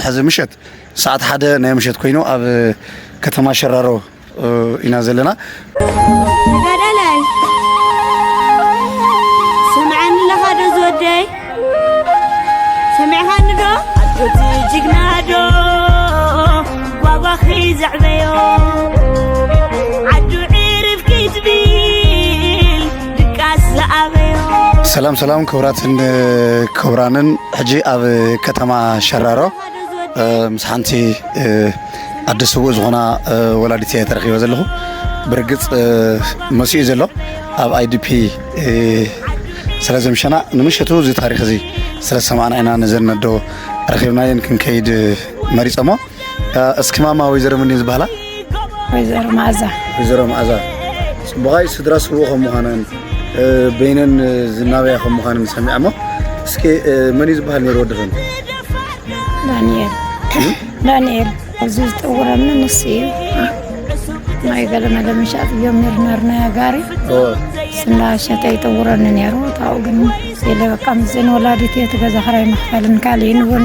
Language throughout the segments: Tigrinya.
ሕዚ ምሸት ሰዓት ሓደ ናይ ምሸት ኮይኑ ኣብ ከተማ ሸራሮ ኢና ዘለና ተጋዳላይ ስምዓኒ ኣለኻ ዶ ዝወደይ ሰሚዕኻኒ ዶ ኣጆቲ ጅግና ዶ ጓጓኺ ዘዕበዮ ሰላም ሰላም ክብራትን ክብራንን ሕጂ ኣብ ከተማ ሸራሮ ምስ ሓንቲ ኣደ ስውእ ዝኾና ወላዲት እየ ተረኪበ ዘለኹ ብርግፅ መሲኡ ዘሎ ኣብ ኣይዲፒ ስለ ዘምሸና ንምሸቱ እዚ ታሪክ እዚ ስለ ሰማዕና ኢና ነዘን ኣዶ ረኪብናየን ክንከይድ መሪፀሞ እስኪ ማማ ወይዘሮ ምንድን ዝበሃላ ወይዘሮ መኣዛ ወይዘሮ መኣዛ ፅቡቓይ ስድራ ስቡቕ ከም ምዃናን በይነን ዝናበያ ከም ምዃንን ሰሚዐ እሞ እስኪ መን እዩ ዝበሃል ነይሩ ወድኽን ዳንኤል ዳንኤል ኣብዚ ዝጠውረኒ ንሱ እዩ ናይ ገለመለ ምሻጥ እዮም ነርና ጋሪ ስና ሸተ ይጠውረኒ ነይሩ ታው ግን የለ በቃ ምስዘን ወላዲት እየ እቲ ገዛ ክራይ መኽፈልን ካልእን እውን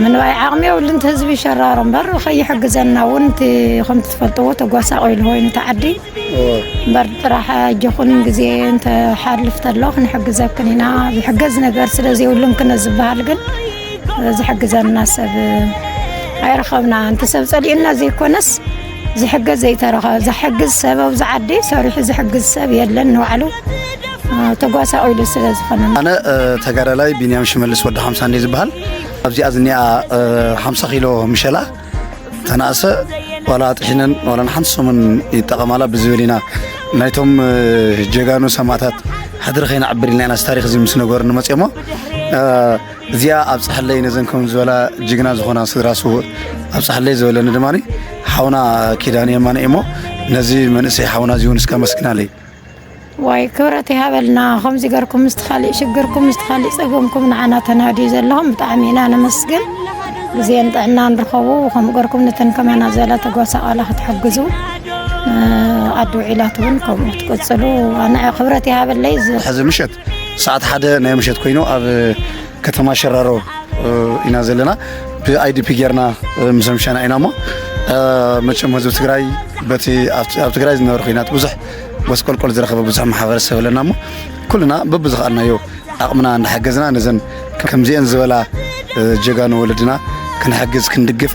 ምንባይ ዓቕሚ የብሉን እቲ ህዝቢ ይሸራሮ እምበር ከይሕግዘና እውን እቲ ከምቲ ትፈልጥዎ ተጓሳቂሉ ኮይኑ እቲ ዓዲ እምበር ጥራሕ ኣጆኹን ግዜ እንተሓልፍ ተሎ ክንሕግዘክን ኢና ዝሕገዝ ነገር ስለ ዘይብሉን ክነ ዝበሃል ግን ዝሕግዘና ሰብ ኣይረኸብና እንተ ሰብ ፀሊኡና ዘይኮነስ ዝሕገዝ ዘይተረኸበ ዝሕግዝ ሰብ ኣብዚ ዓዲ ሰሪሑ ዝሕግዝ ሰብ የለን ንባዕሉ ተጓሳቑሉ ስለ ዝኾነ ኣነ ተጋዳላይ ቢንያም ሽመልስ ወዲ ሓምሳ እንደ ዝበሃል ኣብዚኣ ዝኒኣ ሓምሳ ኪሎ ምሸላ ተናእሰ ዋላ ጥሒነን ዋላ ንሓንቲ ሰሙን ይጠቐማላ ብዝብል ኢና ናይቶም ጀጋኑ ሰማእታት ሕድሪ ከይነዕብር ኢልና ኢና ታሪክ እዚ ምስ ነገሩ ንመፅኦሞ እዚኣ ኣብፀሐለይ ነዘን ከም ዝበላ ጅግና ዝኾና ስድራ ስውእ ኣብፀሐለይ ዝበለኒ ድማ ሓውና ኪዳን የማነ እሞ ነዚ መንእሰይ ሓውና እዚ እውን እስከ መስግናለይ ዋይ ክብረት ይሃበልና ከምዚ ገርኩም ምስቲ ካሊእ ሽግርኩም ምስቲ ካሊእ ፀገምኩም ንዓና ተናድዩ ዘለኹም ብጣዕሚ ኢና ነመስግን ግዜን ጥዕና ንረኸቡ ከምኡ ገርኩም ነተን ከማና ዝበላ ተጓሳቐላ ክትሕግዙ ኣዶ ዒላት እውን ከምኡ ትቅፅሉ ኣነ ክብረት ይሃበለይ ሕዚ ምሸት ሰዓት ሓደ ናይ ምሸት ኮይኑ ኣብ ከተማ ሸራሮ ኢና ዘለና ብኣይዲፒ ጌርና ምስ ኣምሻና ኢና እሞ መቸም ህዝቢ ትግራይ በቲ ኣብ ትግራይ ዝነበረ ኩናት ብዙሕ ጎስቆልቆል ዝረኸበ ብዙሕ ማሕበረሰብ ኣለና እሞ ኩልና በብዝኸኣልናዮ ኣቕምና እናሓገዝና ነዘን ከምዚአን ዝበላ ጀጋኑ ወለድና ክንሕግዝ ክንድግፍ